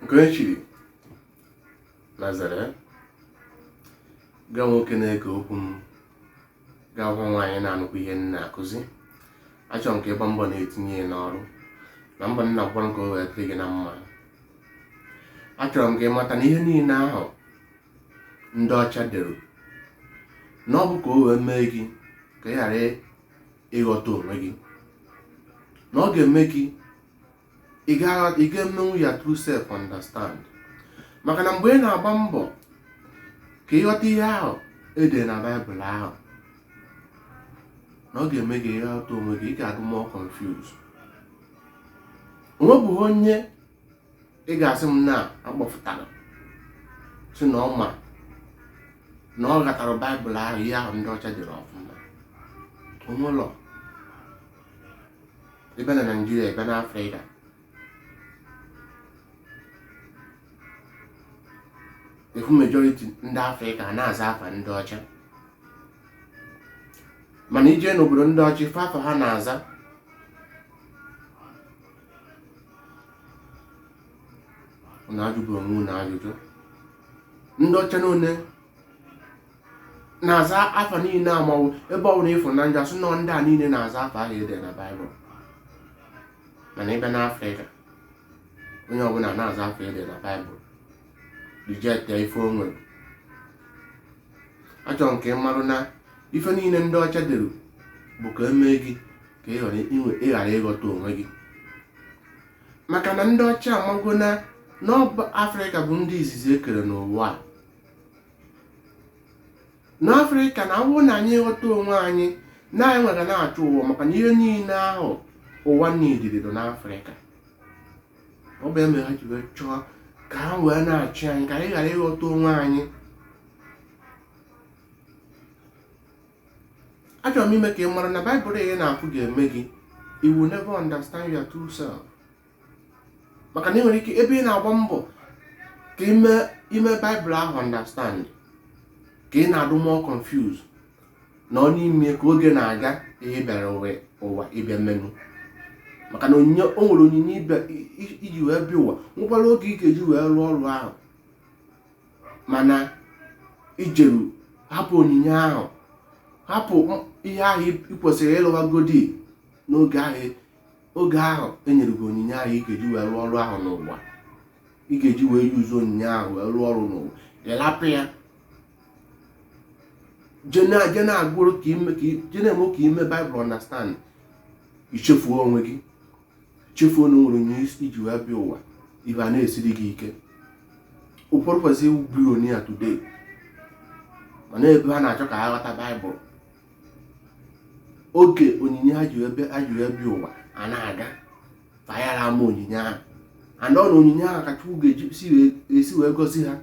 nke echiri nazere gị ahụ nwoke na-ege okwu m gị ahụ nwaanyị na-anụkwa ihe m na-akụzi achọrọ m ka ị gbaa mbọ na-etinye ya n'ọrụ na mbọ nna gwara ka o wee dịrị gị na mma achọrọ m ka ị mata na ihe niile ahụ ndị ọcha dere na ọ bụ ka o wee mee gị ka ị ghara ịghọta onwe gị na ọ ga-eme gị ị gaghị emenwu your true self understand maka na mgbe ị na-agba mbọ ka ị ghọta ihe ahụ edere na baịbụl ahụ na ọ ga-eme gị ị ghọta onwe gị ị ga-adị more confused onwebụghị onye ị ga-asị m na akpọfụtara sị na ọ ma na ọ ghọtara baịbụl ahụ ihe ahụ ndị ọcha dere ọfụma onwelọ ị bịa na naijiria ị bịa na afrịka ị fụ majority ndị afrịka na-aza afa ndị ọcha mana i jee n'obodo ndị ọcha ị fụ afa ha na-aza na ajụbụ onwe na ajụjụ ndị ọcha n'one na-aza afa niile amanwụ ebe ọbụla ị fụ na njọ asụ nọ ndị a niile na-aza afa ahụ ede na baịbụl mana ị bịa n'afrịka onye ọbụla na-aza afa ede na baịbụl reject ife o nwere achọrọ m ka ị marụ na ife niile ndị ọcha dere bụ ka emee gị ka ị ghara ịghọta onwe gị maka na ndị ọcha amago na na ọ bụ afrịka bụ ndị izizi ekere n'ụwa a n'afrịka na ọ wụ na anyị ghọta onwe anyị na anyị nwere na-achị ụwa maka na ihe niile ahụ ụwa niile bido n'afrịka ọ bụ ya mere ha ji wee chọọ ka ha wee na-achị anyị ka anyị ghara ịghọta onwe anyị achọrọ m ime ka ị mara na baịbụl ị na-agụ ga-eme gị you will never understand your true self maka na ị nwere ike ebe ị na-agba mbọ ka i mee baịbụl ahụ understand ka ị na-adụ more confuse na ọ n'ime ka oge na-aga ihe ị bịara ụwa ịbịa mmenụ maka na o nwere onyinye i ji wee bịa ụwa nwekwara oge ị ga-eji wee rụọ ọrụ ahụ mana i jeru hapụ onyinye ahụ hapụ ihe ahụ ị kwesịrị ịlụwagodi n'oge ahụ oge ahụ enyere gị onyinye ahụ ị ga-eji wee rụọ ọrụ ahụ n'ụwa ị ga-eji wee use onyinye ahụ wee rụọ ọrụ n'ụwa ịlapụ ya je na-agụrụ ka ime ka je na-eme ka ime baịbụl understand ichefuo onwe gị chefuo na nwere onyinye iji wee bịa ụwa ife a na-esiri gị ike ụfọdụ kwesịrị ịwụ billionaire today mana ebe ha na-achọ ka ha ghọta baịbụl oge onyinye ha ji wee bịa ụwa a na-aga fa ayara ama onyinye ahụ and ọ na onyinye ahụ ka chukwu ga-esi wee gosi ha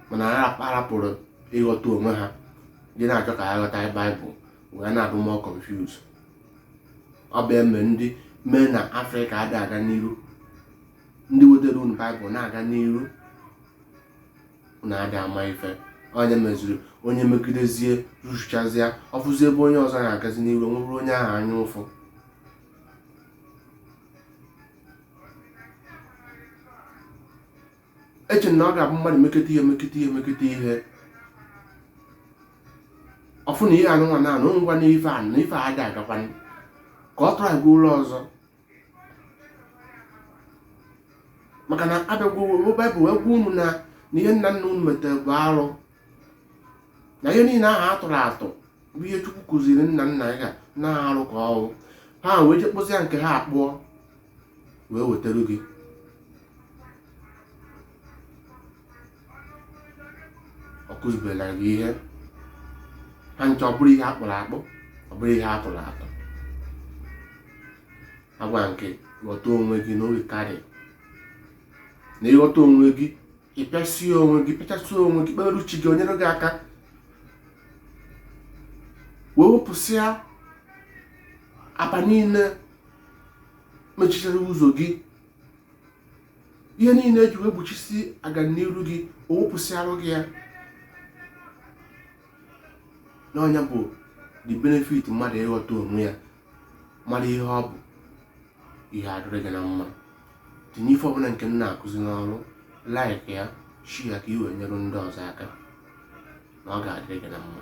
mana ha arapụrụ ịghọta onwe ha je na-achọ ka ha ghọta baịbụl wee na-adị more confused ọ bụ eme ndị mee na afrịka adị aga n'iru ndị wetara unu baịbụl na-aga n'iru na adị ama ife onye meziri onye megidezie rụchazịa ọ fụzi ebe onye ọzọ na-agazi n'iru o nwebere onye ahụ anya ụfụ eche na ọ ga-abụ mmadụ meketa ihe meketa ihe meketa ihe ọ fụ na ihe anụnwa na anụ ngwa na ife a na ife adị agakwanụ ka ọ tụrụ aga ụlọ ọzọ maka na abịagwo baịbụl wee gwa unu na na ihe nna nna unu metere bụ arụ na ihe niile ahụ atụrụ atụ bụ ihe chukwu kụziri nna nna ya na arụ ka ọ wụ ha wee je kpụzie nke ha akpụọ wee wetara gị ọ kụzibela gị ihe ha ncha ọ bụrụ ihe akpụrụ akpụ ọ bụrụ ihe atụrụ atụ agwa nke ghọta onwe gị na oge karị na ịghọta onwe gị ịpịasị onwe gị pịchasị onwe gị kpere chi gị o nyere gị aka wee wepụsịa aba niile mechichara ụzọ gị ihe niile eji wee gbochisi aganiru gị o wepụsịarụ gị ya na ọ nya bụ the benefit mmadụ ịghọta onwe ya mara ihe ọ bụ ihe adịrị gị na mma tinye ife ọbụla nke m na-akụzi n'ọrụ like ya share ya ka i wee nyere ndị ọzọ aka na ọ ga-adịrị gị na mma